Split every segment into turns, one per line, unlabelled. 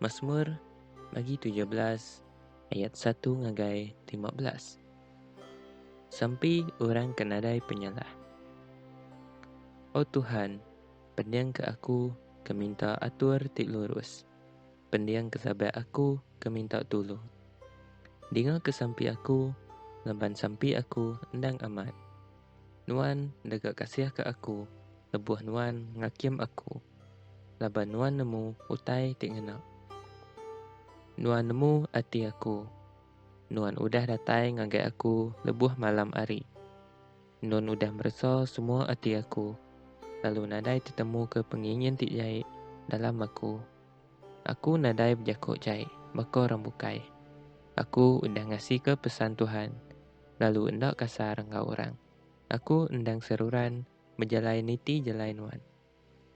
Masmur bagi tujuh belas ayat satu ngagai lima belas. Sampi orang ke nadai penyalah. O Tuhan, pendingka aku ke minta atur ti lurus, pendingka sabat aku ke minta tulung. Dingaka sampi aku laban sampi aku endang amat. Nuan deka kasihka aku lebuh Nuan ngakim aku, laban Nuan nemu utai ti ngena. Nuan nemu ati aku. Nuan udah datai ngagai aku lebuh malam ari. Nun udah meresa semua ati aku, lalu nadai tetemuka pengingin ti jai dalam aku. Aku nadai bejako jai baka orang bukai. Aku udah ngasika pesan Tuhan. lalu enda kasar enggau orang. Aku endang seruran bejalai niti jalai nuan,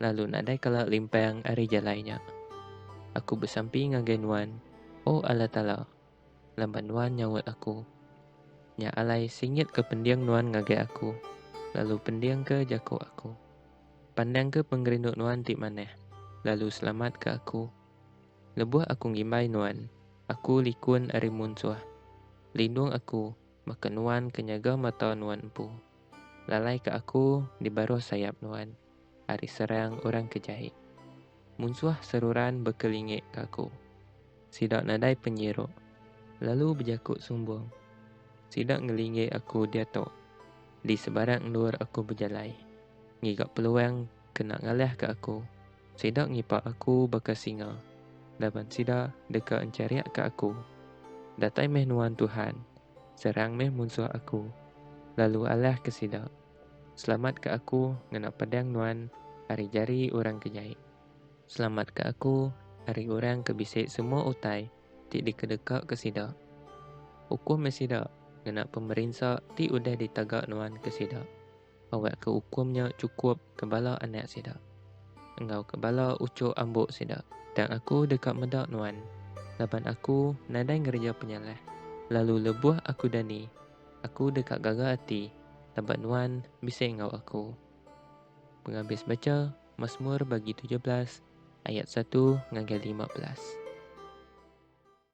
lalu nadai kala limpang ari jalai nya. Aku besampi ngagai nuan, O Allah Taala, laban nuan nyaut aku. Nya alai singitka pending nuan ngagai aku, lalu pendingka jaku aku. Pandangka pengerindu nuan ti manah, lalu selamatka aku. Lebuh aku ngimbai Nuan, aku likun ari munsuh. Lindung aku, baka Nuan ke nyaga mata Nuan empu. Lalaika aku di baruh sayap Nuan ari serang orang ke jahik. Munsuh seruran bekelingik ka aku. Sida nadai penyiruk, lalu bejaku sumbung. Sida ngelingik aku diatu, di sebarang endur aku bejalai, ngiga peluang kena ngalahka aku. Sida ngipak aku baka singa, laban sida deka encariakka aku. Datai meh nuan Tuhan, serang meh munsuh aku, lalu alahka sida. Selamatka aku ngena pedang nuan ari jari orang ke jai. Selamatka aku ari orang ke bisi semua utai ti dikedekaka sida. Ukum meh sida ngena pemerinsa ti udah ditaga nuan ke sida. Awakka ukum nya chukup ke bala anak sida, enggau ke bala uchuk ambo sida. Tang aku deka meda nuan, laban aku nadai ngereja penyalah, lalu lebuh aku dani, aku deka gaga ati, laban nuan bisi enggau aku. Pengabis bacha Masmur bagi tujuh belas ayat satu ngagai lima belas.